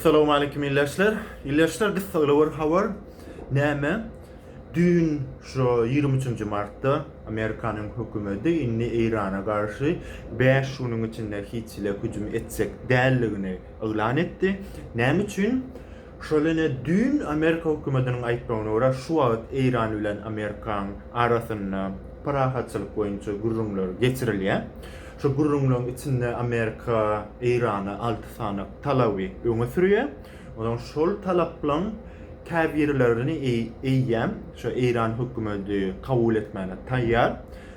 Salowmaleýkim ildeşler. Ildeşler biz Saglawar habar näme düýn şu ýigrimi üçünji martda Amerikanyň hökümeti indi Eýrana garşy bäş günüň içinde hiç hili hüjüm etjek däldigini yglan etdi. Näme üçin? Şol ine düýn Amerika hökümetiniň aýtmagyna görä şu wagt Eýran bilen Amerikaň arasynda parahatçylyk boýunça gürrüňler geçirilýär. Şu gürrüňleriň içinde Amerika Eýrana alty sany talaby öňe sürýär. Onsoň şol talaplaryň käbirlerini eýýäm şu Eýran hökümeti kabul etmäne taýýar.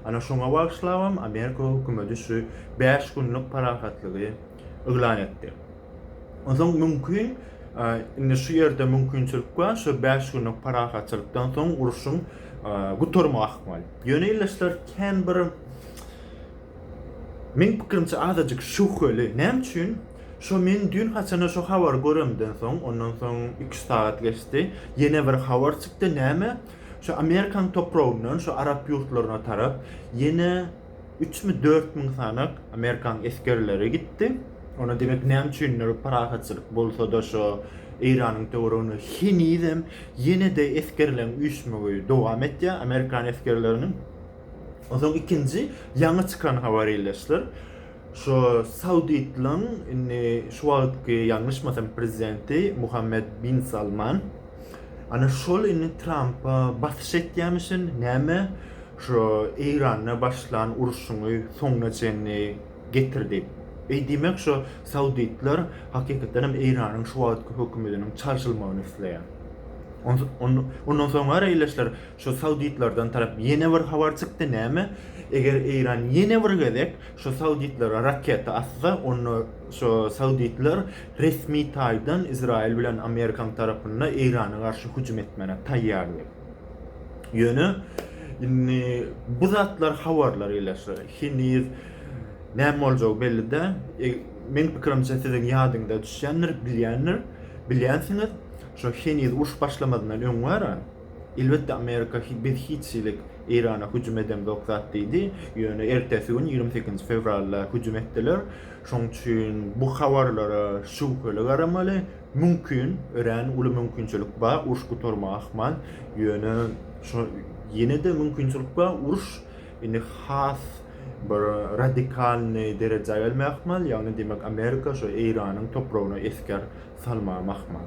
Ana şoňa bagyşlabam Amerika hökümeti şu bäş günlük parahatlygy yglan etdi. Onsoň mümkin indi şu ýerde mümkinçilik bar, şu bäş günlük parahatçylykdan soň urşuň gutarmagy ahmal. Ýöne ildeşler kän bir Meň pikirimçe azajyk şübheli. Näme üçin? Şo men düýn haçana şo habary göremden soň, ondan soň iki-üç sagat geçdi, ýene bir habar çykdy, näme, şo Amerikanyň topragyndan şo arap ýurtlaryna tarap ýene üçmi, dört müň sanak Amerikanyň esgerleri gitdi. Onda demek näme üçindir parahatçylyk bolsa-da şo Eýranyň töwereginde henizem ýene-de esgerleriň üýşmegi dowam etýär, Amerikan esgerleriniň. Onsoň ikinji ýaňy çykan habar illeşdir. Şu Sauditliň indi şu wagtky ýalňyşmasam prezidenti Muhammed bin Salman ana şol indi Trampa basyş etýämişin näme şu Eýranda başlan urşuňy soňuna çenli getir diýip. Eý diýmek şu Sauditler hakykatdan hem Eýranyň şu wagtky hökümetiniň çalşylmagyny isleýär. Ondan soňara illeşdir Şu sauditlerden tarap ýene bir habar çykdy näme eger Eýran ýene bir gezek şu sauditlere raketa atsa onda şu sauditler resmi taýdan Izraýyl bilen Amerikaň tarapynda Eýrana garşy hüjüm etmäne taýýar diýip. Ýöne indi bu zatlar habarlar ile şu heniz näme boljagy belli däl. E, meň pikirimçe siziň ýadyňyza düşýändir, bilýändir, bilýänsiňiz şu heniz uruş başlamazyndan öň wara Elbetde Amerika biz hiç hilik Eýrana hüjüm edemzok zat diýdi, ýöne ertesi gün ýigrimi sekizinji fewralda hüjüm etdiler. Şoň üçin bu habarlara şübheli garamaly. Mümkin, örän uly mümkinçilik bar, uruş gutarmagy ahmal, ýöne şo ýene-de mümkinçilik bar, uruş indi has bir radikalnyý derejä gelmegi ahmal, ýagny demek Amerika şo Eýranyň topragyna esger salmagam ahmal.